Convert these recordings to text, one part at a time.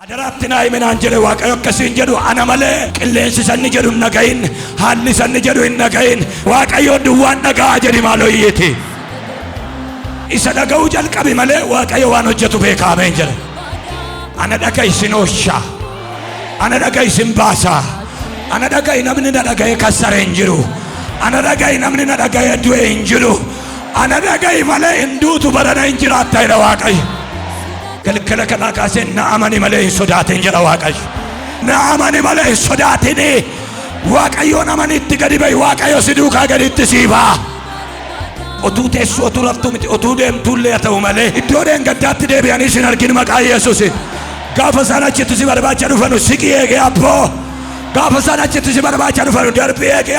Adaraa itti naa himi naan jedhe Waaqayyo akka siin jedhu ana malee qilleensi isa inni jedhu hin dhagahin haalli isa inni jedhu hin dhagahin Waaqayyoon duwwaan dhaga'a jedhi maaloo iyyiiti. Isa dhaga'uu jalqabi malee Waaqayyo waan hojjetu beekaa ameen jedhe. Ana dhaga'i sin ooshaa. Ana dhaga'i sin baasaa. Ana dhaga'i namni na dhaga'ee kassare hin jiru. Ana dhaga'i namni na dhaga'ee du'e hin jiru. Ana dhaga'i malee hin duutu barana hin jiraatta jedha Waaqayyo. Galgala kanaa kaasee na amani malee hin sodaatin jedha Waaqayyo. Na amani malee hin sodaatin. Waaqayyoon amani itti gadi ba'i Waaqayyo si duukaa gaditti sii ba'a. Otuu teessuu otuu raftuu miti otuu deemtuullee haa ta'u malee iddoo dheengaddaatti deebi'anii sin argin maqaa Yesuusin. Gaafa isaan achitti si barbaacha dhufanu siqii eegee abboo. Gaafa isaan achitti si barbaacha dhufanu darbii eegee.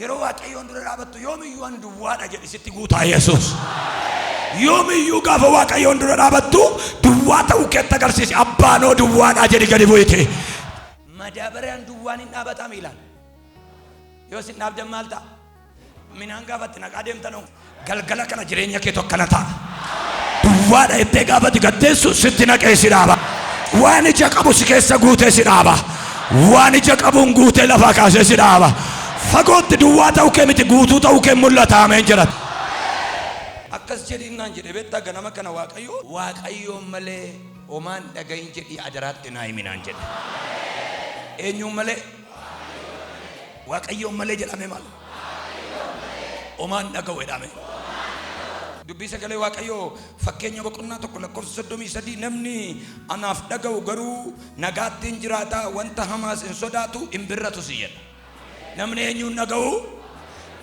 Yeroo Waaqayyoon dura dhaabattu yoomiyyuu an duwwaadha jedhi sitti guutaa Yesuus. Yoomiyyuu gaafa Waaqayyoon dura dhaabattu duwwaa ta'uu keetti agarsiisi. Abbaanoo duwwaadha jedhi gadi bu'ite. Madaabaraan duwwaan hin dhaabataa miilaan. Yoo sin dhaabdan maal ta'a? Minaan gaafatti naqaa deemtanoo. Galgala kana jireenya keetu akkana ta'a. Duwwaadha jettee gaafa digatteessu sitti naqee si dhaaba. Waan ija qabu si keessa guutee si dhaaba. Waan ija qabuun guutee lafaa kaasee si dhaaba. Fagootti duwwaa ta'uu kee miti guutuu ta'uu kee mul'ata ameen jedhata. Akkas jedhiin naan jedhe beektaa ganama kana Waaqayyo Waaqayyoon malee homaan dhagahin jedhii adaraatti naa himi naan jedhe. Eenyuun malee? Waaqayyoon malee jedhaamee maal? Omaa hin dhaga'u jedhaamee. Dubbii sagalee Waaqayyoo fakkeenya boqonnaa tokko lakkoofsa soddomii sadii namni anaaf dhaga'u garuu nagaatti hin jiraata wanta hamaas hin sodaatu hin birratus jedha. Namni eenyuun dhaga'u?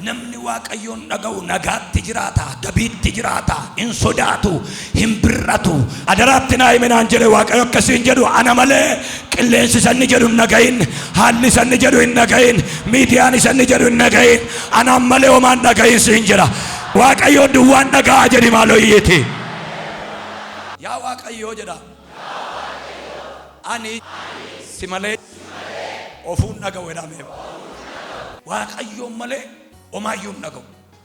Namni Waaqayyoon dhaga'u nagaatti jiraata, gabiitti jiraata, hin sodaatu, hin bir'atu. Adaraatti naa himi naan jedhe Waaqayyo akkasii hin jedhu ana malee qilleensi sanni jedhu hin dhagahin haalli sanni jedhu hin dhagahin miidiyaan sanni jedhu hin dhagahin anaan malee homaan dhagahin siin jedha Waaqayyo duwwaan dhaga'a jedhi maaloo iyyiiti. Yaa Waaqayyoo jedha ani si malee ofuun dhaga'u jedhameera. Waaqayyoon malee homaayyuu hin dhaga'u.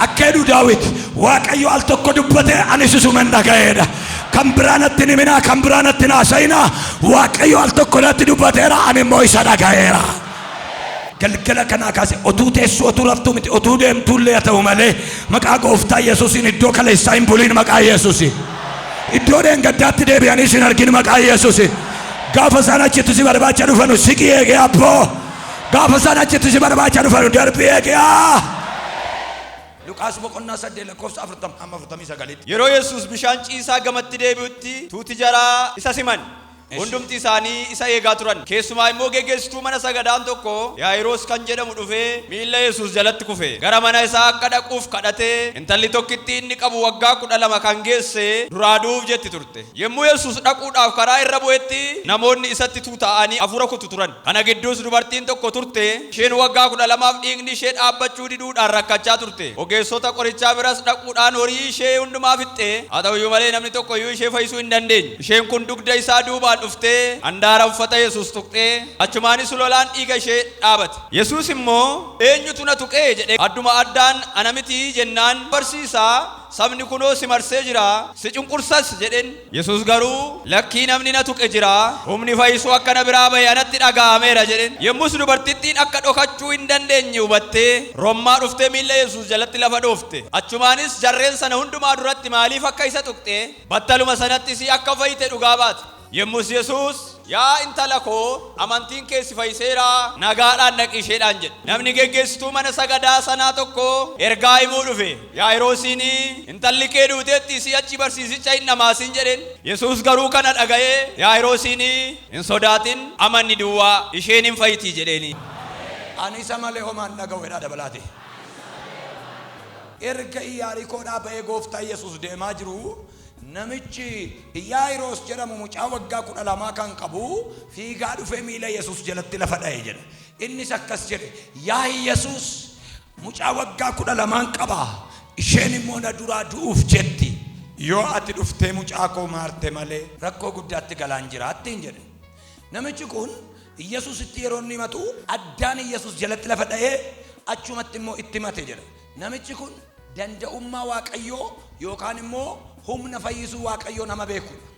Akka jedhu Daawit, Waaqayyo al tokko dubbate, anis isuman dhaga'eedha. Kan biraa natti hin himinaa, kan biraa natti hin haasa'inaa. Waaqayyo al tokko natti dubbateera, ani immoo isa dhaga'eera. Galgala kanaa kaase otuu teessuu otuu raftuu miti otuu deemtuu illee haa ta'u malee maqaa gooftaa Yesuusiin iddoo kaleessaa hin buliin maqaa Yesuusiin. Iddoo dheengaddaatti deebi'anii sin argin maqaa Yesuusiin. Gaafa isaan achitti si barbaacha dhufanu siqii eegee abboo. Gaafa isaan achitti si barbaacha dhufan darbii eegi'aa. Luqaas boqonnaa saddeet lakkoofsa afurtama amma afurtamii sagalitti. Yeroo Yesuus bishaan ciisaa gamatti deebi'utti tuuti jaraa isa siman. Hundumti isaanii isa eegaa turan. Keessumaa immoo geggeessituu mana sagadaan tokko Yaayiroos kan jedhamu dhufee miilla Yesuus jalatti kufe. Gara mana isaa akka dhaquuf kadhatee intalli tokkitti inni qabu waggaa kudha lama kan geesse duraa du'uuf jetti turte. Yommuu Yesuus dhaquudhaaf karaa irra bu'etti namoonni isatti tuuta'anii hafuura kutu turan. Kana gidduus dubartiin tokko turte. Isheen waggaa 12f dhiigni ishee dhaabbachuu diduudhaan rakkachaa turte. Ogeessota qorichaa biras dhaquudhaan horii ishee hundumaa fixxe. Haa ta'u iyyuu malee namni tokko iyyuu ishee fayyisuu hin dandeenye. Isheen kun dugda isaa duubaan dhuftee handaara uffata Yesuus tuqxee, achumaanis lolaan dhiiga ishee dhaabate. Yesuus immoo, Eenyutu na tuqe? jedhe. Adduma addaan, Ana miti jennaan, Barsiisaa, sabni kunoo si marsee jira, si cunqursas jedheen. Yesuus garuu, Lakkii namni na tuqe jira, humni fayyisuu akka na biraa ba'e anatti dhaga'ameera jedheen. Yommus dubartittiin akka dhokachuu hin dandeenye hubattee, rommaa dhuftee miilla Yesuus jalatti lafa dhoofte. Achumaanis jarreen sana hundumaa duratti maaliif akka isa tuqxe, battaluma sanattis akka fayyite dhugaa baate. Yommus Yesuus. Yaa intala ko, amantiin kee si fayiseera. Nagaadhaan dhaqi isheedhaan jedhe. Namni geggeessituu mana sagadaa sanaa tokko ergaa himuu dhufe. Yaa'iroosiin, Intalli kee duuteetti, si'achi barsiisicha hin dhamaasin jedheen. Yesuus garuu kana dhaga'ee Yaa'iroosiin, Hin sodaatin, amanni duwwaa, isheen in fayti jedheen. Ani isa malee homaa hin dhaga'u jedhaa dabalaati. Erga Iyaarikoodhaa ba'ee Gooftaa Yesuus deemaa jiruu, Namichi Iyaayiroos jedhamu mucaa waggaa 12 kan qabu fiigaa dhufee miila Yesuus jalatti lafa dha'e jedha. Innis akkas jedhe, Yaa Yesuus, mucaa waggaa 12n qaba, isheen immoo na duraa du'uuf jetti. Yoo ati dhuftee mucaa koo maarte malee. rakkoo guddaatti galaan jira ittiin jedhe. Namichi kun Yesuusitti yeroo inni himatu addaan Yesuus jalatti lafa dha'ee achumatti immoo itti himate jedha. Namichi kun danda'ummaa Waaqayyoo yookaan immoo humna fayyisuu Waaqayyoo nama beeku dha.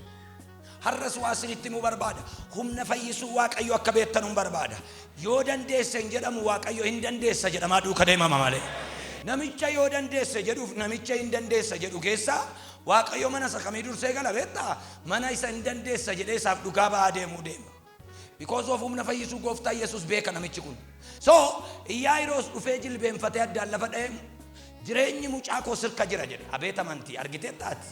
Har'as waa isinitti himuu barbaada. Humna fayyisuu Waaqayyoo akka beektanuun barbaada. Yoo dandeesse hin jedhamu Waaqayyo hin dandeessa jedhamaa duuka deemama malee. Namicha yoo dandeesse jedhuuf namicha hin dandeessa jedhu keessa Waaqayyo mana isa kamii dursee gala beektaa? Mana isa hin dandeessa jedhee isaaf dhugaa ba'aa deemuu deema. Because of humna fayyisuu gooftaa Yesus beeka namichi kun. So, Iyyaayiroos dhufee jilbeenfatee addaan lafa dha'ee jireenyi mucaa koo sirka jira jedhe. Abeet amantii! Argiteetta ati?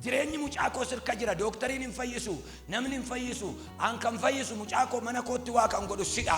Jireenyi mucaa koo sirka jira, dooktariin hin fayyisu, namni hin fayyisu, an kan fayyisu mucaa koo mana kootti waa kan godhu sidha.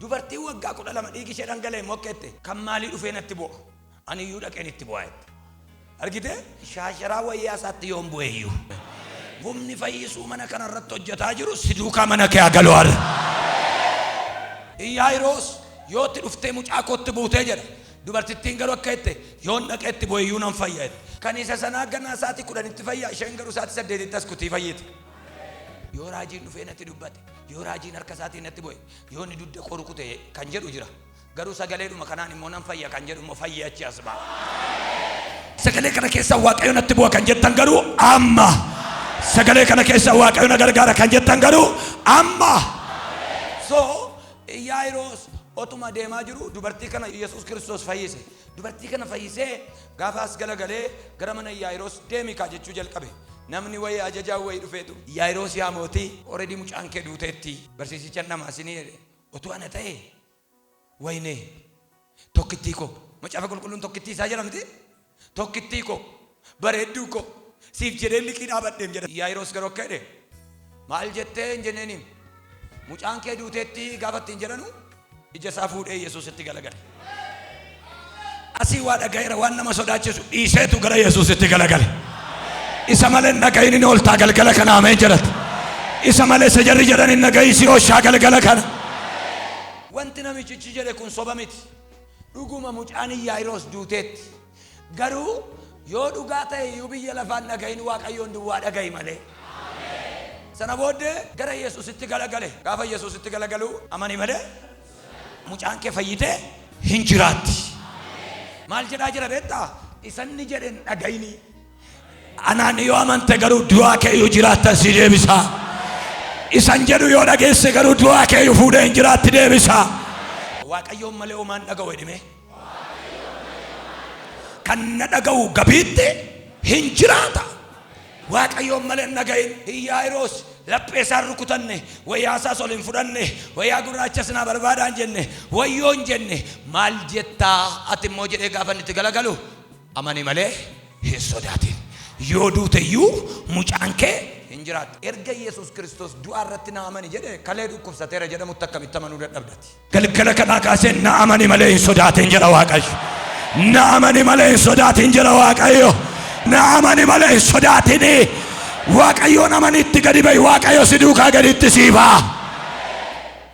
Dubartiin waggaa 12 dhiigi ishee dhangala'e immoo akka jette, kan maalii dhufee natti bu'a? Ani iyyuu dhaqeen itti bu'aa jette. Argitee? Shaasharaa wayyaa isaatti yoon bu'e iyyuu. Humni fayyisuu mana kana irratti hojjetaa jiru si duukaa mana kee haa galu har'a. Iyaayiroos yoo itti dhuftee mucaa kootti buutee jedha. Dubartittiin garuu akka jette, yoon dhaqee itti bu'e iyyuu nan fayya jette. Kan isa sanaa ganaa isaatii 10tti fayya, isheen garuu isaatii 8tti as kutii fayyiti. Yoo raajiin dhufee natti dubbate. Yoo raajiin harka isaatiin natti bu'e, yoo inni dugda koo rukute kan jedhu jira. Garuu sagaleedhuma kanaan immoo nan fayya kan jedhu immoo fayyee achi as ba'a. Sagalee kana keessa Waaqayyo natti bu'a kan jettan garuu amma. Sagalee kana keessa Waaqayyo na gargaara kan jettan garuu amma. So Yaayiroos otuma deemaa jiru dubartii kana Yesuus Kiristoos fayyise. Dubartii kana fayyisee Gaafa as galagalee gara mana Iyyaayiroos deemi kaa jechuu jalqabe. Namni wayii ajajaan wayii dhufeetu Iyyaayiroos yaa mootii already mucaan kee duuteetti barsiisicha hin dhamaasinii jedhe. Otuu ana ta'ee wayinee tokkittii koo macaafa qulqulluun tokkittii isaa jedha mitii? Tokkittii koo bareedduu koo siif jedheen liqii dhaabadheem jedha. Iyyaayiroos garuu akka jedhe maal jettee hin jenneeniim mucaan kee duuteetti gaafa ittiin jedhanuu Ija isaa fuudhee Yesuusitti galagale. Asii waa dhaga'eera waan nama sodaachisu dhiiseetu gara Yesuusitti galagale. Isa malee hin dhaga'iin hin ooltaa galgala kana ameen jedhata. Isa malee isa jarri jedhan hin dhaga'iin si ooshaa galgala kana. Wanti namichichi jedhe kun soba miti. Dhuguma mucaan Yaa'iroos duuteetti. Garuu yoo dhugaa ta'e iyyuu biyya lafaa hin dhaga'in Waaqayyoon duwwaa dhaga'i malee. Sana booddee gara Yesuusitti galagale. Gaafa Yesuusitti galagalu amani malee mucaan kee fayyitee hin jiraatti. Maal jedhaa jira beektaa? Isa inni jedhe hin dhaga'inii. Anaan yoo amante garuu du'aa keeyyuu jiraattan si deebisa. Isan jedhu yoo dhageesse garuu du'aa keeyyuu fuudhee hin jiraatti deebisa. Waaqayyoon malee homaan dhaga'u jedhime. Kan na dhaga'u gabiitti hin jiraata. Waaqayyoon malee hin dhaga'in hin yaa'iroos laphee isaan rukutanne wayyaa isaas ol hin fudhanne wayyaa gurraacha sinaa barbaadaan jenne wayyoo hin jenne maal jettaa ati immoo jedhee gaafa inni itti galagalu Amani malee hin sodaatin. Yoo duute iyyuu mucaan kee hin jiraatu. Erga Yesuus Kiristoos du'aa irratti na amani jedhee kalee dhukkubsateera jedhamutti akkamitti amanuu dadhabda ati? Galgala kanaa kaasee na amani malee hin sodaatin jedha Waaqayyo. Na amani malee hin sodaatin jedha Waaqayyo. Na amani malee hin sodaatini. Waaqayyoon amani itti gadi ba'i. Waaqayyo si duukaa gaditti sii ba'a.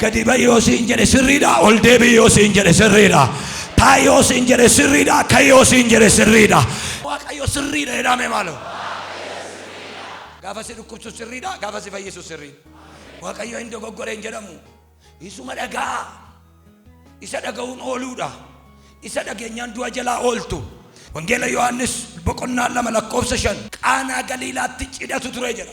Gadi ba'i yoo siin jedhe sirriidha, ol deebi'i yoo siin jedhe sirriidha. Taa'i yoo siin jedhe sirriidha, ka'i yoo siin jedhe sirriidha. Waaqayyo sirriidha jedhaa mee maaloo. Gaafa si dhukkubsu sirriidha, gaafa si fayyisu sirriidha. Waaqayyo hin dogoggore hin jedhamu. Isuma dhaga'a. Isa dhaga'uun ooluudha. Isa dhageenyaan du'a jalaa ooltu. Wangeela Yohaannis boqonnaa lama lakkoofsa shan Qaanaa Galiilaatti cidhatu ture jedha.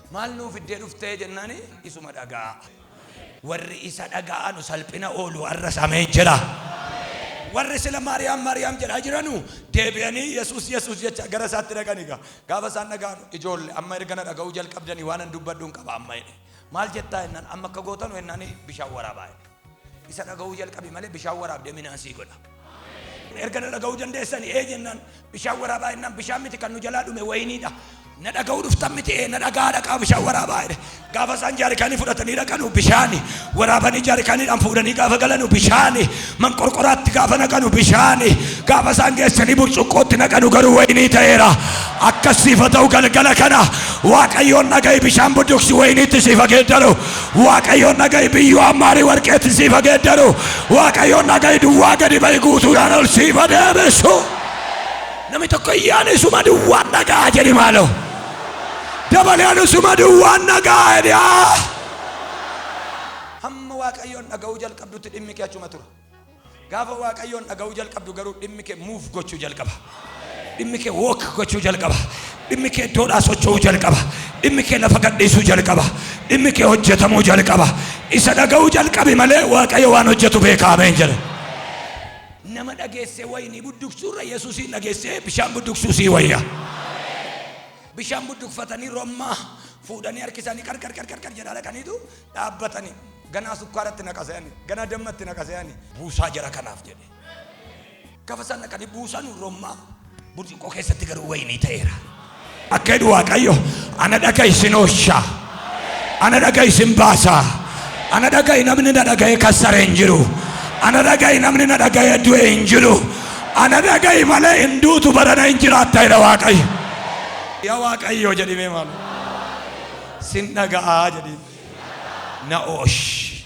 Maal nuu fiddee dhufte jennaani isuma dhaga'a. Warri isa dhaga'anu salphina oolu arras ameen jedha. Warri sila Maariyaam Maariyaam jedhaa jiranu deebi'anii Yesuus Yesuus jechaa gara isaatti dhaqani gaa. Gaafa isaan dhaga'anu ijoolle amma erga na dhaga'uu jalqabdani waanan dubbadhun qaba amma jedhe. Maal jettaa jennaan amma akka gootanu jennaani bishaan waraabaa jedhe. Isa dhaga'uu jalqabi malee bishaan waraabde minaa sii godha. Erga na dhaga'uu dandeessani ee jennaan bishaan waraabaa jennaan bishaan miti kan nu jalaa dhume wayiniidha. Na dhaga'uu dhuftan miti ee na dhaga'aa dhaqaa bishaan waraabaa jedhe. Gaafa isaan jaarikaanii fudhatanii dhaqanu bishaani. Waraabanii jaarikaaniidhaan fuudhanii gaafa galanu bishaani. Manqorqoraatti gaafa naqanu bishaani. Gaafa isaan geessanii burcuqqootti naqanu garuu wayinii ta'eera. Akkas siifa ta'u galgala kana Waaqayyoon dhaga'i bishaan budduuqsi wayiniitti siifa geeddaru. Waaqayyoon dhaga'i biyyoo hammaarii warqeetti siif haa geeddaru. Waaqayyoon dhaga'i duwwaa gadi ba'i guutuudhaan ol siif haa deebisu. Namni tokko iyyaan isuma duwwaan dhaga'a jedhi maaloo. Dabalee anu isuma duwwaan dhaga'a jedhi haa. Hamma Waaqayyoon dhaga'uu jalqabdutti dhimmi kee achuma tura. Gaafa Waaqayyoon dhaga'uu jalqabdu garuu dhimmi kee move gochuu jalqaba. Dhimmi kee walk gochuu jalqaba. Dhimmi kee iddoodhaa socho'uu jalqaba. Dhimmi kee lafa gadhiisuu jalqaba. Dhimmi kee hojjetamuu jalqaba. Isa dhaga'uu jalqabi malee Waaqayyo waan hojjetu beeka ameen jedha. Nama dhageessee wayinii budduqsuurra Yesuusiin dhageessee bishaan budduqsuu sii wayya. Bishaan budduqfatanii rommaa fuudhanii harki isaanii qarqar qarqar jedhaa dhaqaniitu dhaabbatani ganaa sukkaara itti naqa se'ani ganaa damma itti naqa se'ani. buusaa jara kanaaf jedhe gafa sana kan buusanu rommaa burcuqqoo keessatti garuu wayinii ta'eera akka jedhu waaqayyo ana dhaga isin oosha ana dhaga isin baasa ana dhaga'i namni na dhaga'e kassare hin jiru ana dhaga'i namni na dhaga'e du'e hin jiru ana dhaga'i malee hin duutu barana hin jiraatta jedha waaqayyo yaa waaqayyo jedhimee maal Sin dhaga'aa jedhiin. Na'oosh.